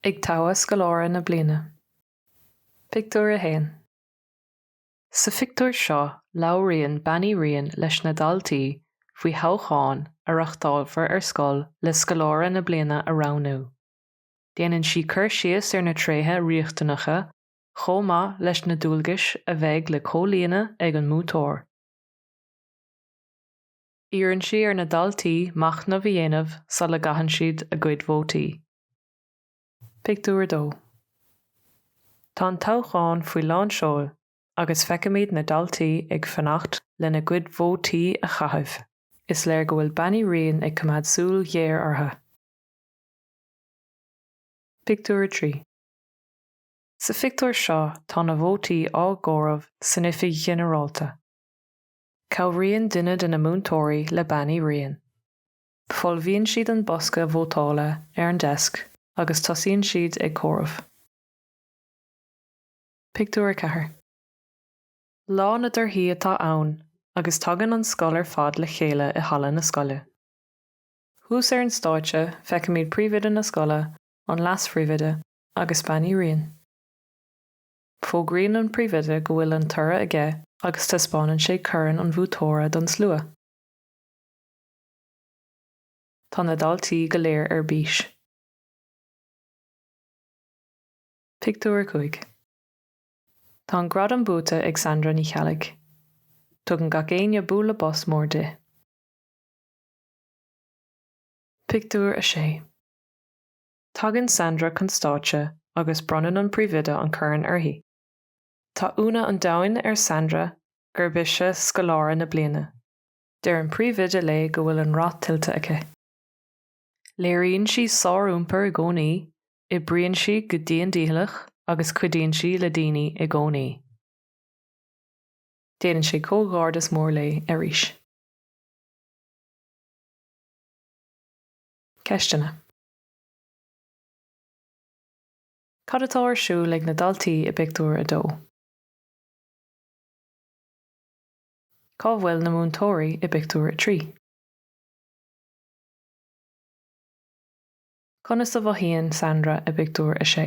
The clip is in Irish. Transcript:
Ag Toghadh Scoláire na Bliana. Pictiúr 1 Sa phictiúr seo labhraíonn Bean Uí Riain leis na daltaí faoi thoghchán a reachtálfar ar scoil le Scoláire na Bliana a roghnú. Déanann sí cur síos ar na tréithe riachtanacha chomh maith leis na dualgais a bheidh le comhlíonadh ag an mbuaiteoir. Iarrann sí ar na daltaí machnamh a dhéanamh sula gcaitheann siad a gcuid vótaí. Pictiúr 2 Tá an toghchán faoi lán seoil agus feicimid na daltaí ag fanacht lena gcuid vótaí a chaitheamh. Is léir go bhfuil Bean Uí Riain ag coimeád súil ghéar orthu. Pictiúr 3 Sa phictiúr seo tá na vótaí á gcomhaireamh san oifig ghinearálta. Cabhraíonn duine de na múinteoirí le Bean Uí Riain. Folmhaíonn siad an bosca vótála ar an deisc agus tosaíonn siad ag comhaireamh. Pictiúr 4 Lá na dtorthaí atá ann agus tagann an scoil ar fad le chéile i halla na scoile. Thuas ar an stáitse feicimid Príomhoide na scoile, an Leas-Phríomhoide agus Bean Uí Riain. Fógraíonn an príomhoide go bhfuil an toradh aige agus taispeánann sé corn an bhuaiteora don slua. Tá na daltaí go léir ar bís. Pictiúr 5 Tá an gradam buaite ag Sandra Ní Cheallaigh. Tugann gach éinne bualadh bos mór di. Pictiúr 6 Tagann Sandra chun stáitse agus bronnann an príomhoide an corn uirthi. Tá ionadh an domhain ar Sandra gurb ise scoláire na bliana. Deir an príomhoide léi go bhfuil an rath tuillte aici. Léiríonn sí sár-iompar i gcónaí, oibríonn sí go dian dícheallach agus cuidíonn sí le daoine i gcónaí. Déanann sé comhghairdeas mór léi arís. Ceisteanna. Cad atá ar siúl ag na daltaí i bpictiúr a dó? Cá bhfuil na múinteoirí i bpictiúr a trí? Conas a mhothaíonn Sandra i bpictiúr a sé?